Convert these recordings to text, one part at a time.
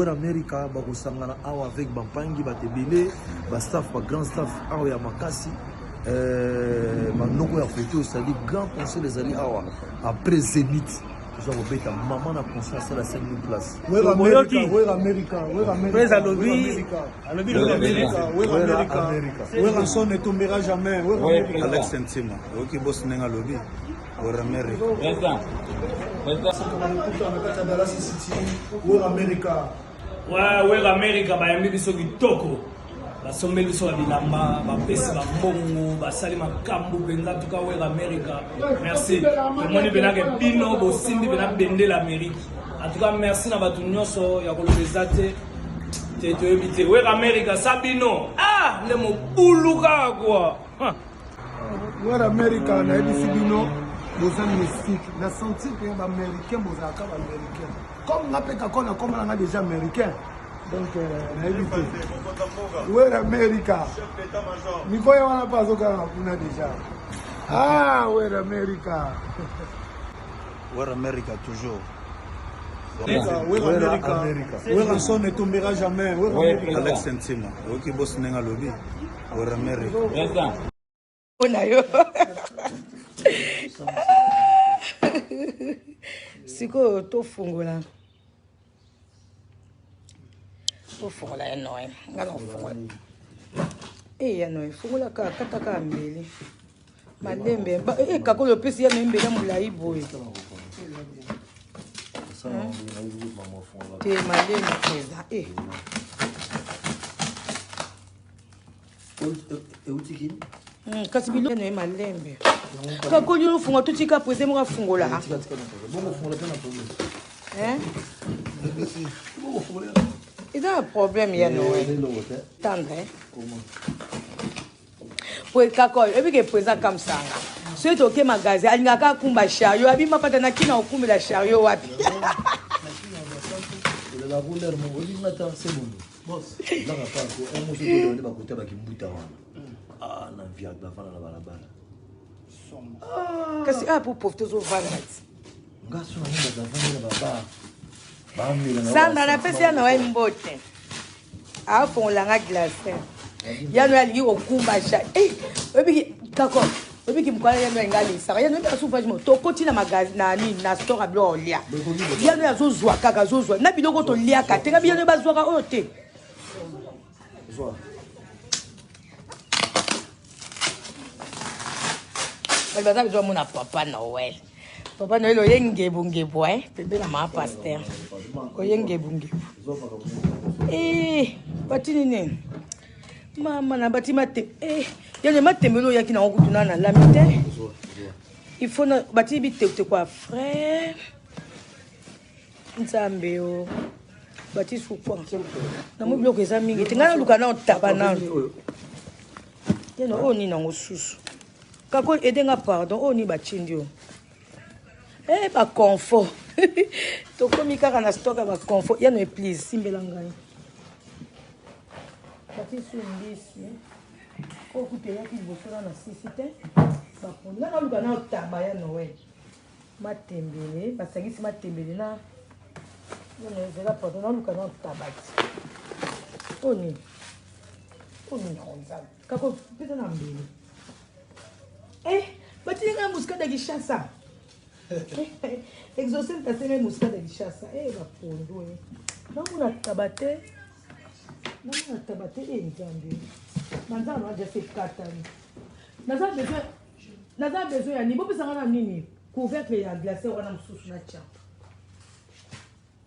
amerika bakosangana awa avec bampangi bato ebele bastaff bagrand staff awa ya makasi banoko ya foto osali grand conseil ezali awa après zenith toza kobeta mama na conscience alasaki place alobi lobi amerika wera amerika wera son etombera jamais alex ntima oyoki bosi ndenge alobi wera amerika wera amerika wera amerika bayambi biso kitoko basombeli biso ya bilamba bapesi bambongo basali makambo mpenza tuka wera amerika merci tomoni mpenake bino bosimbi mpena bendela amerika en tout cas merci na bato nyonso ya koloba eza te te toyebi te weka amerika sa bino ah nde mobulu kaka kua wera amerika nayebisi bino boza mystique na sentir mpe baaméricain bozalaka baaméricain comme nga mpe kako na komona nga déjà américain donc euh, nayebi te wera amerika mikoya wana mpe azokanga kuna déjà ah wera amerika Where America toujours. werasone etombera jamais alex ntima oyoki bosi ndenge alobi wera amerika mpona yo sikoyo tofungola tofungola ya noye nga na kofungola e ya noye fungola kaka kata kaka mbeli malembe e kakoli opesi ya noye mbeli ya molai boye te malembe eza e euti kini hmm, kasi biloko na ye malembe kakoli ofunga totika prese moko afungola eza na problème ya noe tendre kakol oyebi ke presa kamsanga soki toke magasin alingaka akumba chariot abima pata na kina okumbela chariot wapi kasi a po profite ozovanda ti sanda napesi ya noel mbote afongola nga glace yano alingi kokumba ja oyebi kako oyebi kimukala yano enga alisaka yano oyebaka souvage mo tokoti na magazi na nini na store ya biloko olia yano ye azozwa kaka azozwa na biloko toliaka te ngabi yano bazwaka oyo te baza bezwa mona papa noel Papa Noël oye ngebu ngebu hein pembe na ma pasteur oye ngebu ngebu eh batini nini mama na bati mate eh yende matembele oyaki nango kutu na nalami te il faut na bati bitekute kwa frais nzambe o bati sukwa nango biloko eza mingi te ngai naluka nao taba nano yende oyo nini yango susu Kakol aide nga pardon oyo ni ba tindi yo. Eh ba confo. Tokomi kaka na stock ya ba confo. Ya no please simbela ngai. Bati su mbisi. Ko kupe ya ki boso na na sisi te. Ba ponda na luka na taba ya Noël. Matembele, basangisi matembele na nene ezela pardon na luka na taba. Oni. Oni na onzala. Kako pesa na mbele. Eh, batili ngai muscade ya Kinshasa. Exaucé mpase ngai muscade ya Kinshasa. Eh, bapondo. Eh. Namona taba te. Namona taba te eh Nzambe. Manzana na jase katani. Naza besoin naza besoin ya nini? Bopesa ngai na nini? Couvercle ya glacière wana mosusu na tya.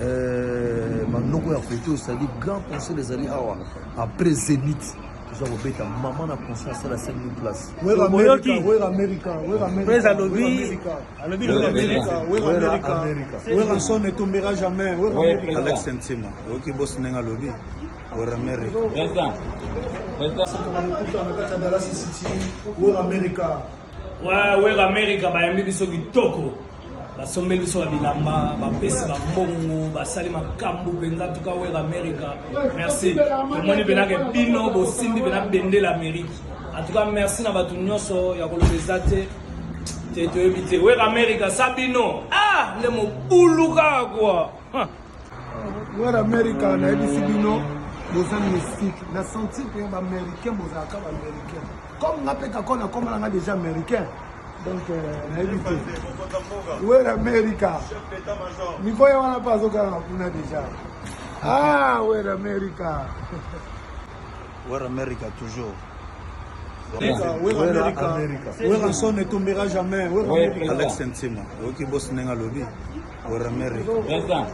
Euh, manoko ya foto osali grand conseil ezali awa après zenith toza kobeta mama na conseil asala 5000 place oyoki pres alobi alobi lokamerikawerson etombera jamais alex ntima oyoki bosi ndenge alobi weramerika amerika Ouais, Web America bayambi biso kitoko basombeli biso ba bilamba bapesi bambongo basali makambo mpenza tuka Web America merci tomoni mpenake bino bosimbi mpena bendela Amerique en tout cas merci na bato nyonso ya koloba eza te te toyebi te Web America sa bino ah nde mobulu kaka kua Noir America nayebisi bino boza mystique na sentir mpe ba américain bozalaka ba américain comme nga mpe kako na komana nga déjà américain donc euh, nayebi te wer america mikoya wana mpe azokanga kuna déjà ah wer america Wera America toujours. Wera son ne tombera jamais. Alex Ntima, oyoki bosi ndenge alobi. Wera America.